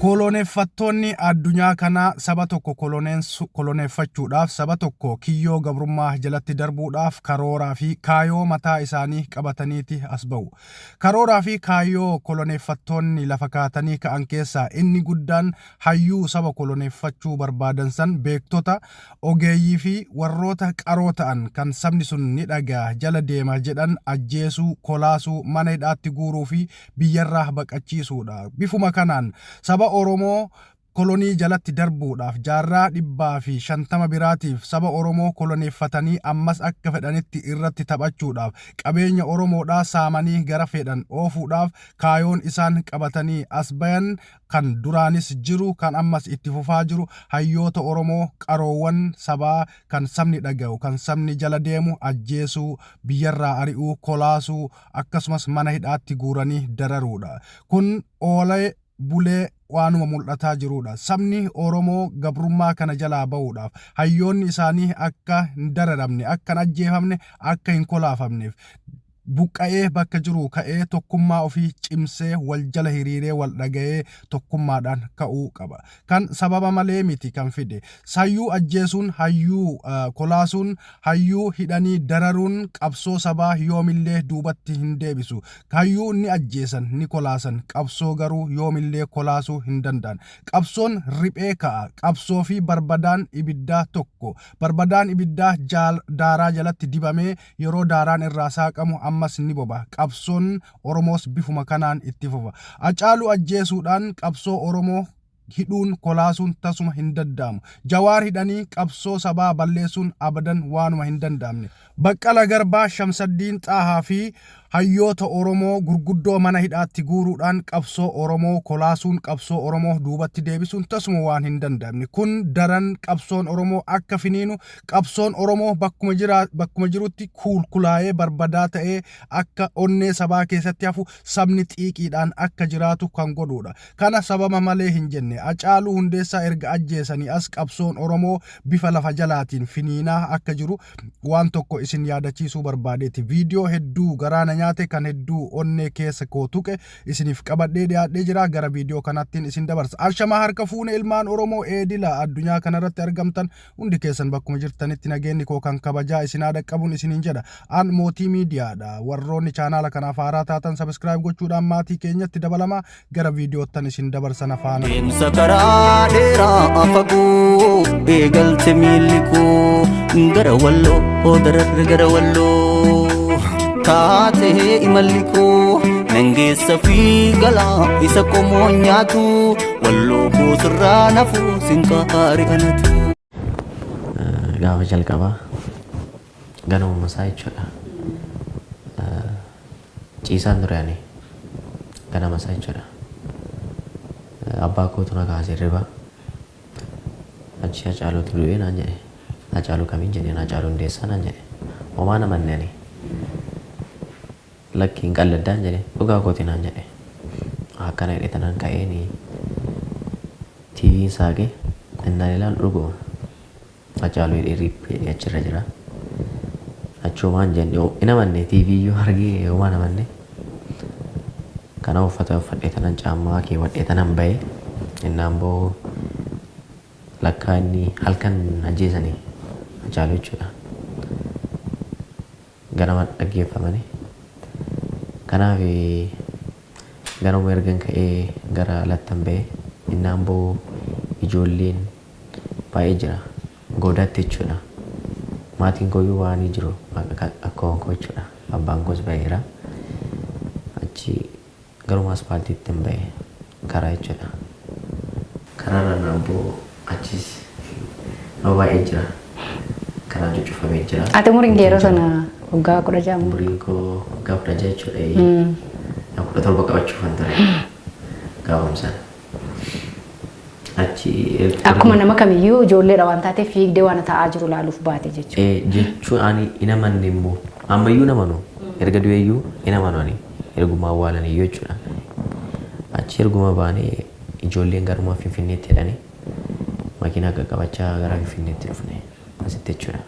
Koloneeffattoonni addunyaa kanaa saba tokko koloneensu- koloneeffachuudhaaf, saba tokko kiyyoo gabrummaa jalatti darbuudhaaf karooraa fi kaayoo mataa isaanii qabataniiti as ba'u. Karooraa fi kaayoo koloneeffattoonni lafa kaatanii ka'an keessaa inni guddaan hayyuu saba koloneeffachuu barbaadan san beektota ogeeyyii fi warroota qaroo ta'an kan sabni sun ni dhaga'a jala deema jedhan ajjeesuu, kolaasuu, mana hidhaatti guuruu fi biyyarraa baqachiisuu dha. Bifuma kanaan saba Oromoo kolonii jalatti darbuudhaaf jaarraa 150 biraatiif saba Oromoo koloneeffatanii ammas akka fedhanitti irratti taphachuudhaaf, qabeenya Oromoodhaa saamanii gara feedhan oofuudhaaf kaayoon isaan qabatanii as bayan kan duraanis jiru kan ammas itti fufaa jiru hayyoota Oromoo qaroowwan sabaa kan sabni dhaga'u kan sabni jala deemu ajjeesuu, biyyarraa ari'uu, kolaasuu akkasumas mana hidhaatti guuranii dararuudha. Kun oolee bulee waanuma mul'ataa jiruudha. Sabni Oromoo gabrummaa kana jalaa ba'uudhaaf hayyoonni isaanii akka hin dararamne, akka hin ajjeefamne, akka hin kolaafamneef Buqqa'ee bakka jiruu ka'ee tokkummaa ofii cimsee wal jala hiriiree wal dhaga'ee tokkummaadhaan ka'uu qaba. Kan sababa malee miti kan fide. Sayyuu ajjeesuun, hayyuu kolaasuun, hayyuu hidhanii dararuun qabsoo sabaa yoomillee duubatti hin deebisu. Hayyuu ni ajjeesan, ni kolaasan, qabsoo garuu yoomillee kolaasuu hin danda'an. Qabsoon riphee ka'a. Qabsoo fi barbadaan ibiddaa tokko. Barbadaan ibiddaa daaraa jalatti dibamee Yeroo daaraan irraa saaqamu ammas ni boba. Qabsoon Oromoos bifuma kanaan itti fufa. Acaaluu ajjeesuudhaan qabsoo Oromoo hidhuun, kolaasuun tasuma hin dadda'amu. Jawaar hidhanii qabsoo sabaa balleessuun abadan waanuma hin danda'amne. Baqqala Garbaa, Shamsaddiin Xaahaa fi Hayyoota Oromoo gurguddoo mana hidhaatti guuruudhaan qabsoo Oromoo kolaasuun qabsoo Oromoo duubatti deebisuun tasuma waan hin danda'amne. Kun daran qabsoon Oromoo akka finiinu, qabsoon Oromoo bakkuma, jira, bakkuma jirutti kuulkulaa'ee barbadaa ta'ee akka onnee sabaa keessatti hafu sabni xiiqiidhaan akka jiraatu kan godhuudha. Kana sababa malee hin jenne. Acaaluu Hundeessaa erga ajjeesanii as qabsoon Oromoo bifa lafa jalaatiin finiinaa akka jiru waan tokko isin yaadachiisuu barbaadeeti. Viidiyoo hedduu garaa na nyaate kan hedduu onnee keessa koo tuqe isiniif qabadhee dhiyaadhee jira. Gara viidiyoo kanaattiin isin dabarsa. Ashamaa harka fuune ilmaan Oromoo eedila addunyaa kanarratti argamtan Hundi keessan bakkuma jirtanitti nageenni koo kan kabajaa isin haa dhaqqabun isiniin jedha. An Mootii Miidiyaadha. Warroonni chaanaala kanaaf haaraa taatan sabiskiraayib gochuudhaan maatii keenyatti dabalamaa gara viidiyoottan isin dabarsana faana. Deemsa karaa dheeraa fagoo eegalte miilli koo gara walloo oo dararra gara walloo taatee imalli koo nan geessa fi galaa isa qomoo nyaatu Walloo koo sirraa nafuu sinqaa haari anatu. Gaafa jalqabaa ganamuma isaa jechuudha. Ciisaan ture ani ganama isaa jechuudha. Abbaa kootu na kaase hirribaa. Achi Hacaaluutu du'e naan jedhe. Hacaaluu kamiin jenneen Hacaaluu Hundeessaa naan jedhe. Homaa hin amanne ani. Lakki hin qalladdaan jedhe. Dhugaa kooti naan jedhe. Akkana jedhee tanaan ka'eeni TVn saaqee innaan ilaalu dhuguma Hacaaluu jedhee RIP jedhee achirra jira. Achumaan jenne hin amanne TV iyyuu argee homaa hin amanne. Kana uffata uffadhee tanaan caammaa keewwadhee tanaan ba'e. Innaan ba'u lakkaa inni halkan ajjeesani Hacaaluu jechuudha. Ganama dhaggeeffamani. Kanaaf ganamuma ergan ka'ee gara alattan ba'e. Innaan ba'u ijoolleen baay'ee jira. Goodaatti jechuudha. Maatiin kooyyuu ba'anii jiru. Akkaawwan koo jechuudha. Abbaan koos ba'eera. Achi. Garuma aspaaltiittin ba'e. Karaa jechuudha. Karaarra naan bu'u achiis nama baay'ee jira. Karaan cuccufamee jira. Ati umuriin kee yeroo sana waggaa kudha ja'a moo? Umuriin koo waggaa kudha ja'a jechuudha. Kudha torba qabachuufan ture gaafuma sana. Achi Ertiraa- Akkuma nama kamiyyuu ijoolleedha waan taateef fiigdee waan ta'aa jiru laaluuf baate jechuudha. Eh, jechuun ani hin amanne immoo ammayyuu hin amanu erga du'eeyyuu hin amanu ani erguma awwaalan iyyuu jechuudha achi erguma baanee ijoolleen garuma finfinneetti jedhanii makiinaa qaqqabachaa gara finfinneetti dhufne asitti jechuudha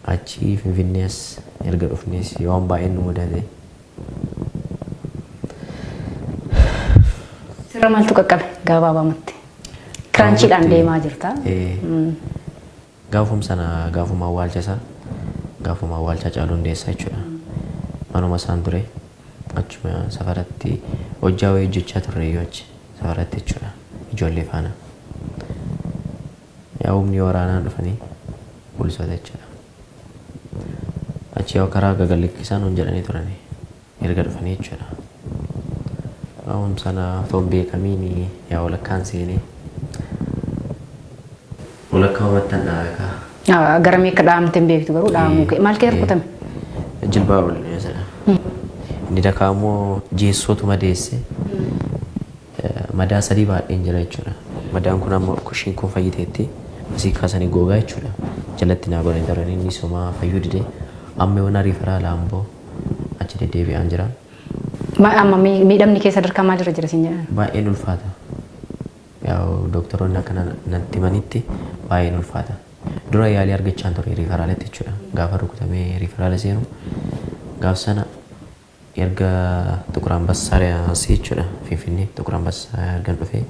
Achi Finfinnee as erga dhufnees waan baay'een nu mudate. Sirra maaltu qaqqabe gaabaabamatti? Kiraanchiidhaan Gaafatti- deemaa jirta. Ee, Gaafum sana gaafuma awwaalcha isaa gaafuma awwaalchaa caaluu hundeessaa jechuudha. Manuma isaan ture achuma safaratti hojjaa wayii hojjechaa turre iyyuu achi safaratti jechuudha ijoollee faana. Yaa humni waraanaa dhufanii poolisoota jechaadha. Achi yoo karaa gagallikkisaa nuun jedhanii turanii erga dhufanii jechuudha. Aawum sana otoo hin beekamiin yaa walakkaan seenee walakkaa umattan dhaabe kaa. Ah, Gara meeqa dhaamte hin beektu garuu dhaamuu kee. Maal kee rukutame? Jilbaa ol sana. Inni dakaa immoo jeessootu madeesse. Madaa sadii baadheen jira jechuudha. Madaan kun amma kushiin kun fayyiteetti. Asii kaasanii googaa jechuudha. Jalatti naa godhanii darban inni somaa fayyuu dide. Amma yoona riifaraa laamboo achi deddeebi'aan jira. Ma, amma mi, miidhamni kee sadarkaa maalirra jira siin jedhan? Baay'een ulfaata. Yaa'u dooktaroonni akka na, natti himanitti baay'een ulfaata. Dura yaalii argachaan ture riifaraaletti jechuudha. Gaafa rukutamee riifaraala seenu gaaf sana Erga Xuqur Anbassaa asi jechuudha Finfinnee Xuqur Anbassaa ergan dhufee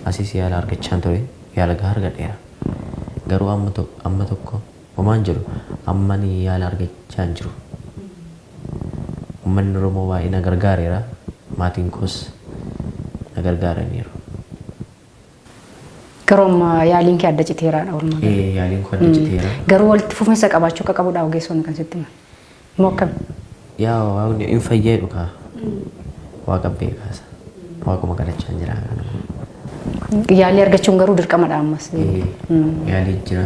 asis yaala argachaan ture yaala gahaa argadheera. Garuu amma amma tokko homaan jedhu amma ani yaala argachaa hin jiru. Ummanni Oromoo baay'ee na gargaareera maatiin koos na gargaaraniiru. Garuu amma yaaliin kee adda citeeraadha walumaa gala. Ee yaaliin koo adda citeera. Garuu walitti fufinsa qabaachuu akka qabudha ogeessonni kan sitti himan. Moo akkami? Yaa waaqni hin fayyee dhugaa. Waaqa beekaasa. Waaquma kadhachaan jira kan ammoo. Yaalii argachuun garuu dirqamadha ammas. Ee Mm. yaalii jira.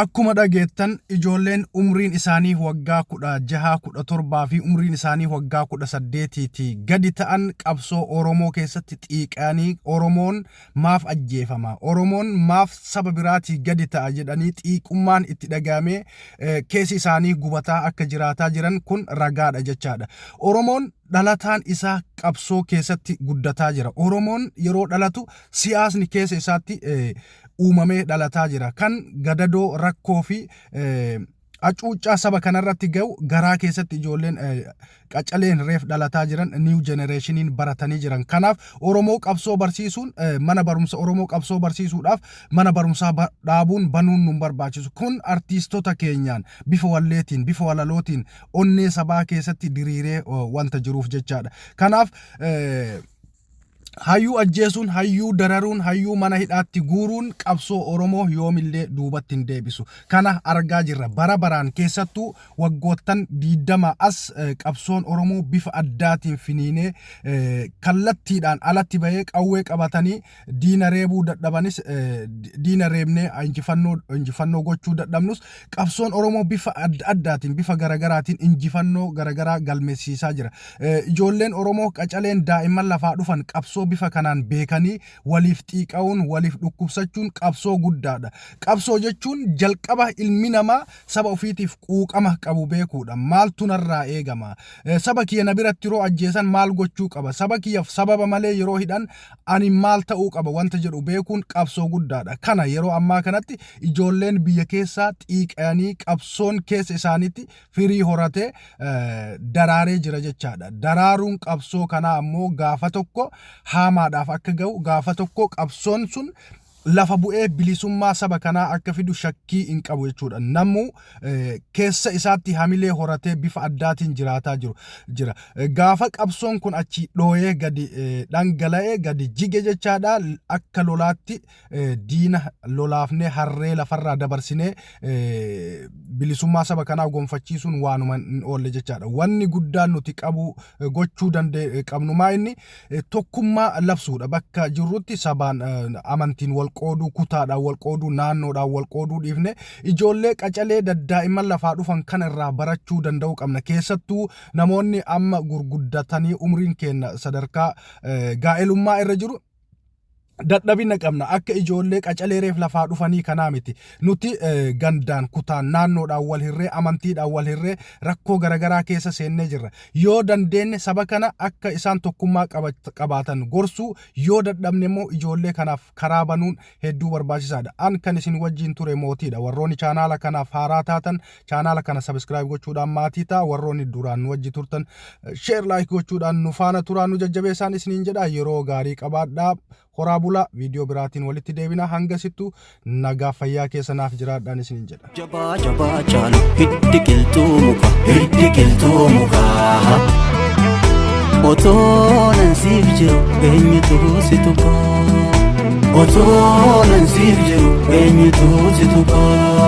Akkuma dhageettan ijoolleen umriin isaanii waggaa 16, 17 fi umriin isaanii waggaa 18 ti gadi ta'an qabsoo Oromoo keessatti xiiqayanii Oromoon maaf ajjeefama, Oromoon maaf saba biraatii gadi ta'a jedhanii xiiqummaan itti dhaga'amee keessi isaanii gubataa akka jiraataa jiran kun ragaadha jechaadha. Oromoon dhalataan isaa qabsoo keessatti guddataa jira. Oromoon yeroo dhalatu siyaasni keessa isaatti uumamee dhalataa jira. Kan gadadoo rakkoo fi hacuuccaa saba kanarratti ga'u garaa keessatti ijoolleen qacaleen reef dhalataa jiran niiw jenereeshiniin baratanii jiran. Kanaaf Oromoo qabsoo barsiisuun mana barumsa Oromoo qabsoo barsiisuudhaaf mana barumsaa dhaabuun banuun nun barbaachisu. Kun artiistota keenyaan bifa walleetiin bifa walalootiin onnee sabaa keessatti diriiree wanta jiruuf jechaadha. Kanaaf Hayyuu ajjeesuun, hayyuu dararuun, hayyuu mana hidhaatti guuruun qabsoo Oromoo yoomillee duubatti hin deebisu. Kana argaa jirra. Bara baraan keessattuu waggoottan 20 as eh, qabsoon Oromoo bifa addaatiin finiinee eh, kallattiidhaan alatti bahee qawwee qabatanii diina reebuu dadhabanis eh, di- diina reebnee injifannoo injifannoo gochuu dadhabnus Qabsoon Oromoo bifa adda addaatiin, bifa garagaraatiin injifannoo garagaraa galmeessiisaa jira. Ijoolleen Oromoo qacaleen daa'imman lafaa dhufan qabsoo bifa kanaan beekanii waliif xiiqa'uun, waliif dhukkubsachuun qabsoo guddaadha. Qabsoo jechuun jalqaba ilmi namaa saba ofiitiif quuqama qabu beekuudha. Maaltu narraa eegama? Saba kiyya na biratti yeroo ajjeesan maal gochuu qaba? Saba kiyyaf sababa malee yeroo hidhan ani maal ta'uu qaba wanta jedhu beekuun qabsoo guddaadha. Kana yeroo ammaa kanatti ijoolleen biyya keessaa xiiqayanii qabsoon keessa isaaniitti firii horatee daraaree jira jechaadha. Daraaruun qabsoo kanaa ammoo gaafa tokko haamaadhaaf akka ga'u gaafa tokko qabsoon sun lafa bu'ee bilisummaa saba kanaa akka fidu shakkii hin qabu jechuudha. Namuu keessa isaatti hamilee horatee bifa addaatiin jiraataa jiru jira. Gaafa qabsoon kun achi dhooyee gadi dhangala'ee gadi jige jechaadha akka lolaatti diina lolaafnee harree lafarraa dabarsinee bilisummaa saba kanaa gonfachiisuun waanuma hin oolle jechaadha. Wanni guddaan nuti qabu gochuu qabnu maa inni eh, tokkummaa labsuudha. Bakka jirrutti sabaan eh, amantiin wal qooduu, kutaadhaan wal qooduu, naannoodhaan wal qooduu dhiifne ijoollee qacalee daddaa'imman lafaa dhufan kana irraa barachuu danda'uu qabna. Keessattuu namoonni amma gurguddatanii umriin keenya sadarkaa eh, gaa'elummaa irra jiru dadhabina qabna akka ijoollee qacalee reef lafaa dhufanii kanaa miti nuti gandaan kutaan naannoodhaan wal hirree amantiidhaan wal hirree rakkoo garagaraa keessa seennee jirra yoo dandeenye saba kana akka isaan tokkummaa qabaatan gorsuu yoo dadhabne immoo ijoollee kanaaf karaa banuun hedduu barbaachisaadha an kan isin wajjiin ture mootiidha warroonni chaanaala kanaaf haaraa taatan Chaanaala kana sabiskiraayib gochuudhaan maatii ta'a. Warroonni duraan nu wajji turtan sheer laayik gochuudhaan nu faana turaa nu jajjabeessaan isiniin jedha. Yeroo gaarii qabaadhaa. Horaa bulaa viidiyoo biraatiin walitti deebina hanga sittu nagaa fayyaa keessa naaf jiraadhaan isiniin jedha. jabaa jabaa caalu hiddi qilxuu muka hiddi qilxuu muka otoo nan siif jiru eenyutu si tuqa otoo nan siif jiru eenyutu si tuqa.